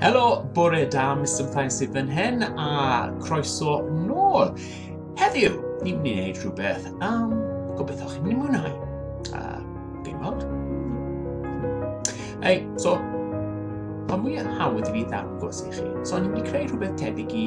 Helo, bore da, Mr Plaen sydd fan hyn, a croeso nôl. Heddiw, ni'n mynd i wneud rhywbeth am gobeithio chi'n mynd i mwynhau. A, fi'n weld. Ei, so, pa mwy hawdd i fi ddangos i chi. So, ni'n mynd i creu rhywbeth tebyg i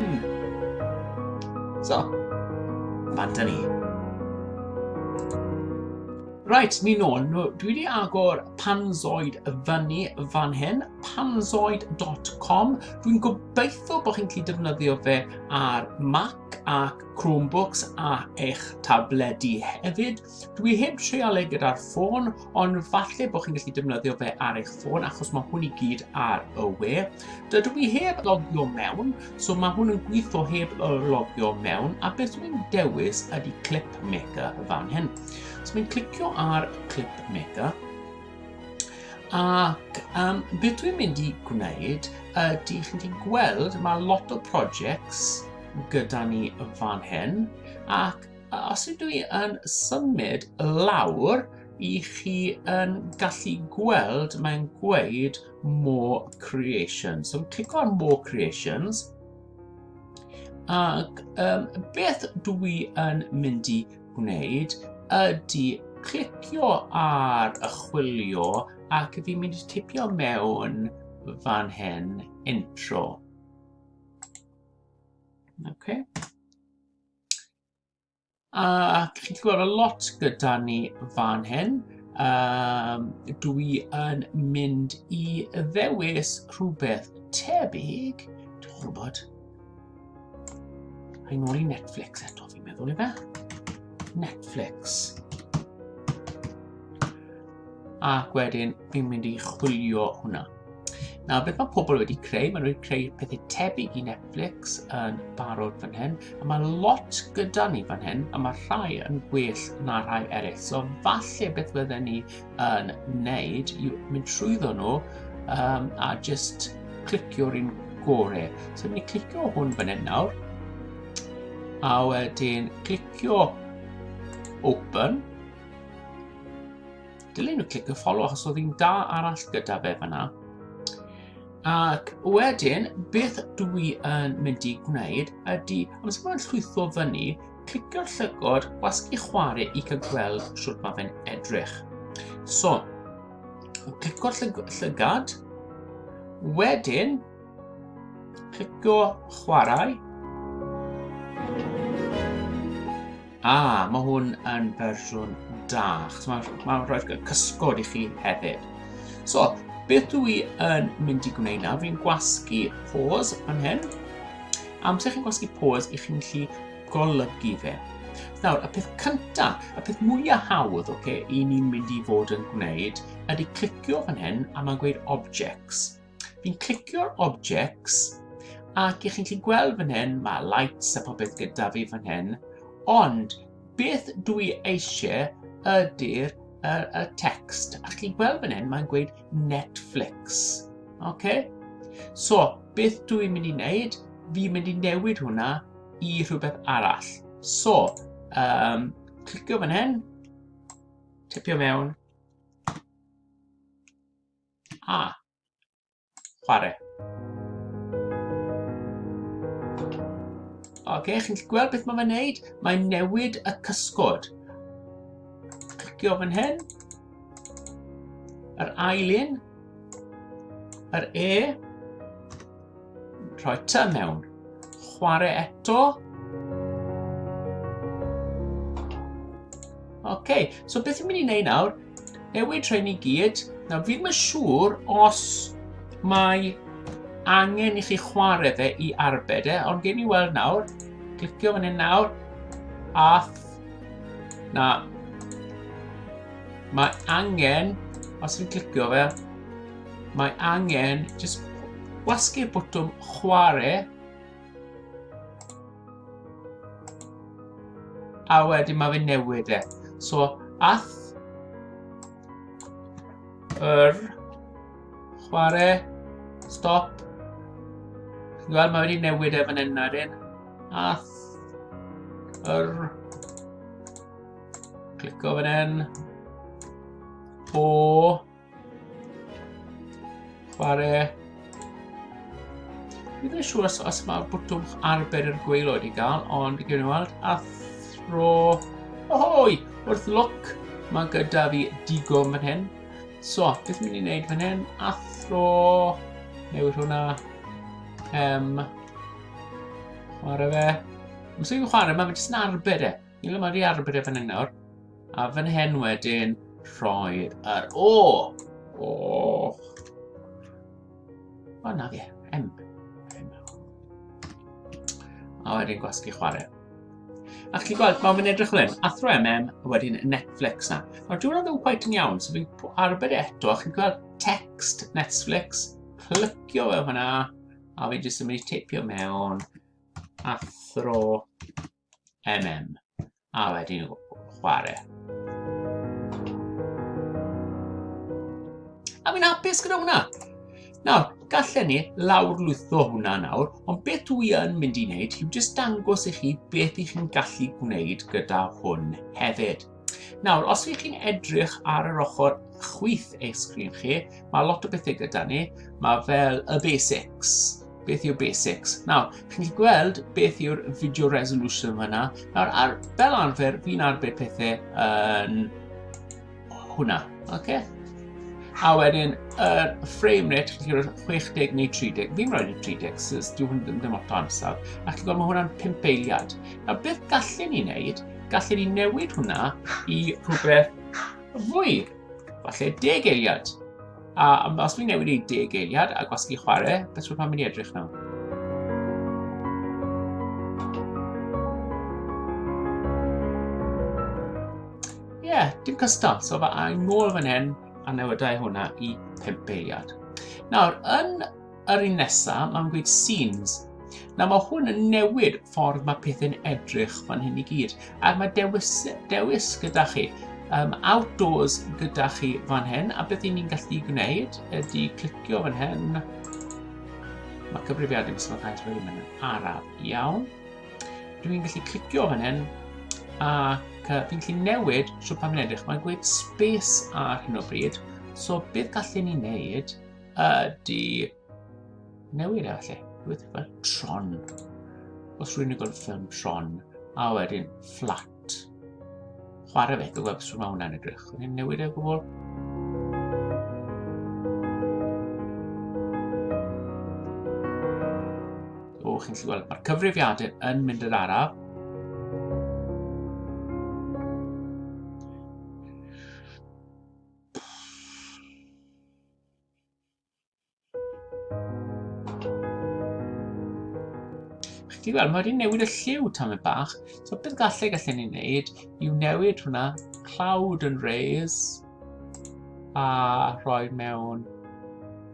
Hmm. So, fan da ni. Right, ni nôl. No, dwi wedi agor Panzoid y fyny fan hyn, panzoid.com. Dwi'n gobeithio bod chi'n gallu defnyddio fe ar Mac ac Chromebooks a eich tabledi hefyd. Dwi heb treal e gyda'r ffôn, ond falle bod chi'n gallu defnyddio fe ar eich ffôn achos mae hwn i gyd ar y we. Dydw i heb logio mewn, so mae hwn yn gweithio heb logio mewn, a beth dwi'n dewis ydy Clip Maker fan hyn. So mae'n clicio ar Clip Maker, ac um, beth dwi'n mynd i gwneud ydy chi'n gallu gweld mae lot o projects gyda ni fan hyn, ac A os ydw i yn symud lawr, i chi yn gallu gweld mae'n gweud More Creations. So clico ar More Creations. Ac um, beth dw i yn mynd i gwneud ydy clicio ar y chwilio ac fi'n mynd i tipio mewn fan hyn intro. Okay. Ac chi'n gweld y lot gyda ni fan hyn. Um, dwi yn mynd i ddewis rhywbeth tebyg. Dwi'n gwybod. Rhaid nôl i Netflix eto, fi'n meddwl i fe. Netflix. Ac wedyn, fi'n mynd i chwilio hwnna. Nawr, beth mae pobl wedi creu? Maen nhw wedi creu pethau tebyg i Netflix yn barod fan hyn, a mae lot gyda ni fan hyn, a mae rhai yn gwell na rhai eraill. So, falle beth fydden ni yn wneud yw mynd trwyddo nhw um, a just clicio'r un gore. So, ni'n mynd clicio hwn fan hyn nawr, a wedyn clicio open, Dylen nhw clicio follow achos oedd hi'n da arall gyda fe fyna. Ac wedyn, beth dw i yn mynd i gwneud ydy, am sy'n mynd llwytho fyny, clicio'r llygod gwasgu chwarae i cael gweld sut mae fe'n edrych. So, clicio'r llygad, wedyn Clicio chwarae. A, ah, mae hwn yn fersiwn da. Mae'n ma rhoi cysgod i chi hefyd. So, beth dwi yn mynd i gwneud nawr? Fi'n gwasgu pause yn hyn. Amser chi'n gwasgu pause, i chi'n gallu golygu fe. Nawr, y peth cyntaf, y peth mwyaf hawdd okay, i ni'n mynd i fod yn gwneud ydy clicio fan hyn a mae'n gweud objects. Fi'n clicio'r objects ac ych chi'n gallu gweld fan hyn, mae lights a popeth gyda fi fan hyn, ond beth dwi eisiau ydy'r y, y text. A chi'n gweld fan hyn, mae'n gweud Netflix. Okay? So, beth dwi'n mynd i wneud? Fi'n mynd i newid hwnna i rhywbeth arall. So, um, clicio fan hyn, tipio mewn, A. Chwarae. Ok, chi'n gallu gweld beth mae'n gwneud? Mae'n newid y cysgod. Clicio fan hyn. Yr ail un. Yr E. Rhoi ta mewn. Chwarae eto. Ok, so beth yw'n mynd i wneud nawr? Newid rhain i gyd. Nawr, fi'n mynd siŵr os mae angen i chi chwarae fe i arbed e, ond gen i weld nawr, clicio fan hyn nawr, a na, mae angen, os fi'n clicio fe, Mae angen just gwasgu'r bwtwm chwarae. A wedyn mae fe newid e. So, ath yr chwarae stop. Wel, mae wedi newid e fan hyn ar un. Ath yr... Clico fan hyn. O... Chwarae. Fi ddim yn siŵr os, os mae bwtwm arbed yr gweilod i gael, ond i gynnu weld, a thro... Ohoi! Wrth lwc, mae gyda fi digon fan hyn. So, beth mynd i wneud fan hyn? Athro... Newid hwnna. Um, chwarae fe. Mae'n sy'n chwarae, mae'n jyst yn arbed e. Ni le mae wedi arbed efen hyn nawr. A fan hyn wedyn, rhoi yr... O! O! O, na fe. M. A wedyn gwasgu chwarae. A chi'n gweld, mae'n mynd edrych fel hyn, athro MM, a wedyn Netflix na. Nawr, dwi'n rhaid yn quite yn iawn, so fi'n arbed eto, a chi'n gweld text Netflix, plycio fe hwnna, a fi'n jyst yn mynd i teipio mewn athro MM, a wedyn chwarae. A fi'n hapus gyda hwnna. Nawr, gallen ni lawrlwytho hwnna nawr, ond beth dwi yn mynd i wneud yw jyst dangos i chi beth i chi'n gallu gwneud gyda hwn hefyd. Nawr, os ydych chi'n edrych ar yr ochr chwith eich sgrin chi, mae lot o bethau gyda ni. Mae fel y basics. Beth yw basics? Nawr, chi'n gallu gweld beth yw'r video resolution fyna. Nawr, ar, fel arfer, fi'n arbed pethau yn hwnna. Okay? A wedyn, yr uh, frame rate, chi'n cael 60 neu 30. Fi'n rhoi 30, sy'n dyw hwn ddim ddim o'r amser. Ac chi'n gweld, mae hwnna'n 5 eiliad. A beth gallen ni wneud gallu ni newid hwnna i rhywbeth fwy. Falle deg eiliad. A os fi'n newid i deg eiliad a gwasgu chwarae, beth rwy'n mynd i edrych nawr? yeah, dim cystal. So fe a'n ngôl fan hyn a newydau hwnna i pimp eiliad. Nawr, yn Yr un nesa, mae'n gweud scenes. Nawr mae hwn yn newid ffordd mae pethau'n edrych fan hyn i gyd. Ac mae dewis, dewis gyda chi. Um, outdoors gyda chi fan hyn. A beth ni'n gallu gwneud ydy clicio fan hyn. Mae cyfrifiad yn sôn cael rhywun yn araf iawn. Dwi'n gallu clicio fan hyn ac uh, fi'n gallu newid siwr pan fi'n edrych. Mae'n gweud space ar hyn o bryd. So beth gallen ni wneud ydy newid e felly. Rwy'n fel tron. Os rwy'n ei gweld ffilm tron, a wedyn fflat. Chwarae fe, gwybod beth mae hwnna'n edrych. Rwy'n newid e gwbl. O, chi'n gallu gweld, mae'r cyfrifiadur yn mynd yn araf. Chi weld, mae wedi newid y lliw tam y bach. So beth gallu gallu ni'n neud yw newid hwnna cloud yn raise a rhoi mewn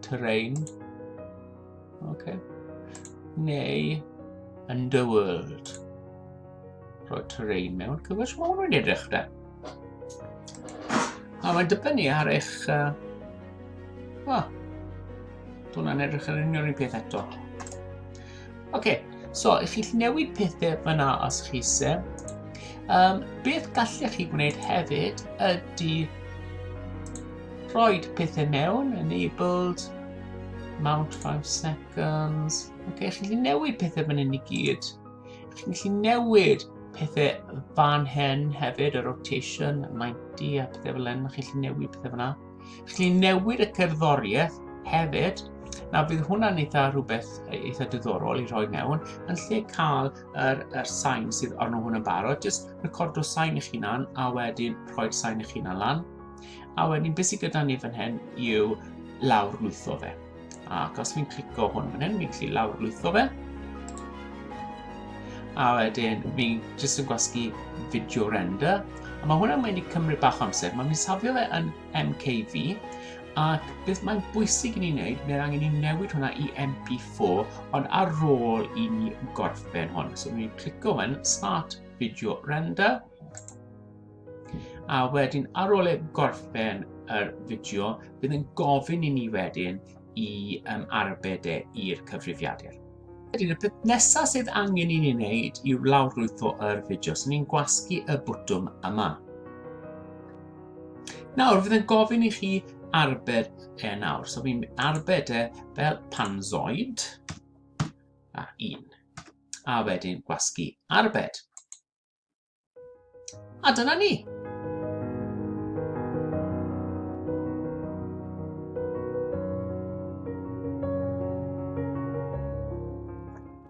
terrain. Okay. Neu underworld. Rhoi terrain mewn, cofio sut mae hwnnw'n edrych da. A mae'n dibynnu ar eich... Uh, oh, Dwi'n edrych ar unrhyw un peth eto. Oce, okay, so i chi'ch newid pethau fyna os chi se, um, beth gallech chi gwneud hefyd ydy rhoi pethau mewn, enabled, mount 5 seconds. Oce, okay, chi'n newid pethau fan hyn i gyd. Chi'n gallu newid pethau fan hen hefyd, y rotation, y 90 a pethau fel hyn, chi'n gallu newid pethau fyna. Chi'n gallu newid y cerddoriaeth hefyd, na bydd hwnna'n eitha rhywbeth eitha diddorol i rhoi mewn, yn lle cael yr, yr sain sydd arno hwn yn barod, jyst recordo sain eich hunan a wedyn rhoi'r sain eich hunan lan. A wedyn beth sydd gyda ni fan hyn yw lawr lwytho fe. Ac os fi'n clico hwn fan hyn, fi'n gallu lawrlwytho fe. A wedyn, fi jyst yn gwasgu video render. A mae hwnna'n mynd i cymryd bach amser. Mae'n mynd safio fe yn MKV. Ac beth mae'n bwysig i ni wneud, mae'n angen i ni newid hwnna i MP4, ond ar ôl i ni gorffen hwn. So, ni'n clico hwn, Start Video Render. A wedyn ar ôl e gorffen yr fideo, bydd yn gofyn i ni wedyn i um, arbed e i'r cyfrifiadur. Wedyn, y peth nesaf sydd angen i ni wneud yw lawrlwytho yr fideo, so ni'n gwasgu y bwtwm yma. Nawr, fydd yn gofyn i chi arbed e nawr. So fi'n arbed e fel panzoid a un. A wedyn gwasgu arbed. A dyna ni.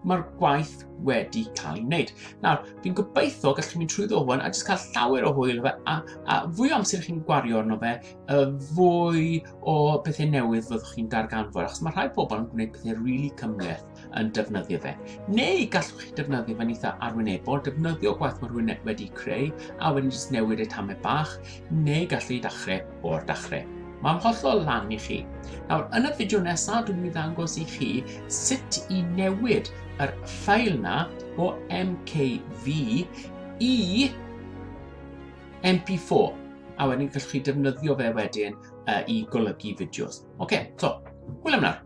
mae'r gwaith wedi cael ei wneud. Nawr, fi'n gobeithio gallu chi'n mynd trwy ddowen a jyst cael llawer o hwyl fe, a, a fwy o amser chi'n gwario arno fe, y fwy o bethau newydd fyddwch chi'n darganfod, achos mae rhai pobl yn gwneud pethau rili really cymleth. yn defnyddio fe. Neu gallwch chi defnyddio fe'n eitha arwynebol, defnyddio gwaith mae rhywun wedi creu a wedyn jyst newid y tamau bach, neu gallu chi dachrau o'r dachrau. Mae'n hollol lan i chi. Nawr, yn y fideo nesaf, dwi'n mynd i ddangos i chi sut i newid yr ffail na o MKV i MP4. A wedyn gallwch chi defnyddio fe wedyn uh, i golygu fideos. Oce, okay, so, hwyl am nawr.